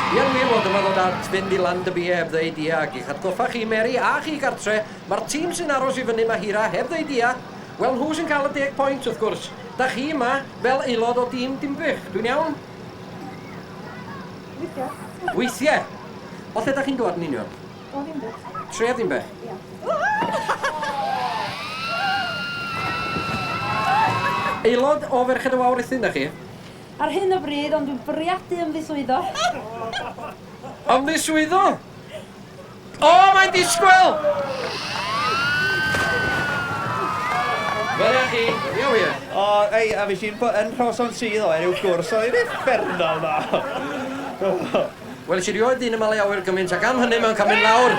Hi yn wir fod dyma ddod at fynd i Land y Bie heb ddeud ia ac i'ch atgoffa chi, Mary, a chi gartre, mae'r tîm sy'n aros i fyny 'ma hira heb ddeud ia, wel nhw sy'n cael y deg point wrth gwrs. Dach chi yma fel aelod o dîm Dinbych, dwi'n iawn? Weithiau. Weithiau? O lle dach chi'n dŵad yn union? O Ddimbych. Tref Ddimbych? Ia. Aelod o Ferched y Wawr Rhuthun dach chi? Ar hyn o bryd, ond dwi'n bwriadu ymddiswyddo. Ymddiswyddo? O, mae'n disgwyl! Gwelech chi? Ia wir? O, ei, a fi sy'n bod yn rhawson sydd o enw gwrs, oedd hi'n effernol dda. Wel, sydd rioed dyn yma le awyr gymaint ac am hynny mae'n cael mynd lawr.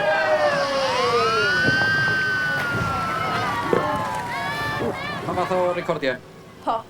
Pa fath o recordiau? Pa?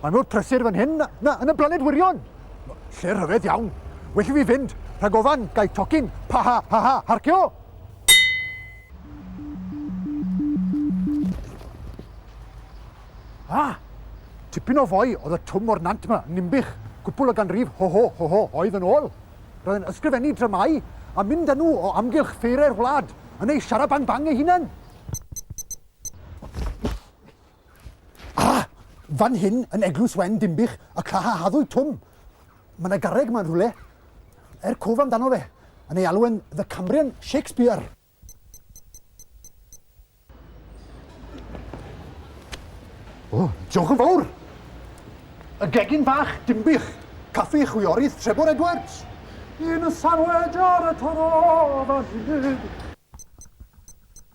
Mae mor prysur fan hyn na yn y blaned wirion! Lle rhyfedd iawn! Well i fi fynd, rhag ofan, gai tocyn, pa ha ha ha, harcio! Ah! Tipyn o foi oedd y twm o'r nant ma, yn Ninbych, cwpwl o ganrif ho ho ho ho oedd yn ôl. Roedd yn ysgrifennu dramau a mynd â nhw o amgylch ffeirau'r wlad, yn ei siarabang-bang ei hunan. Ah! Fan hyn, yn Eglwys Wen Dinbych, y cla a haddwyd Twm. Mae yna garreg ma'n rhywle. Er cof amdano fe, yn ei alw yn The Cambrian Shakespeare. O, diolch yn fawr! Y gegin fach, Dinbych, caffi chwiorydd Trebor Edwards. Yn y sarwedr y taro fan hyn.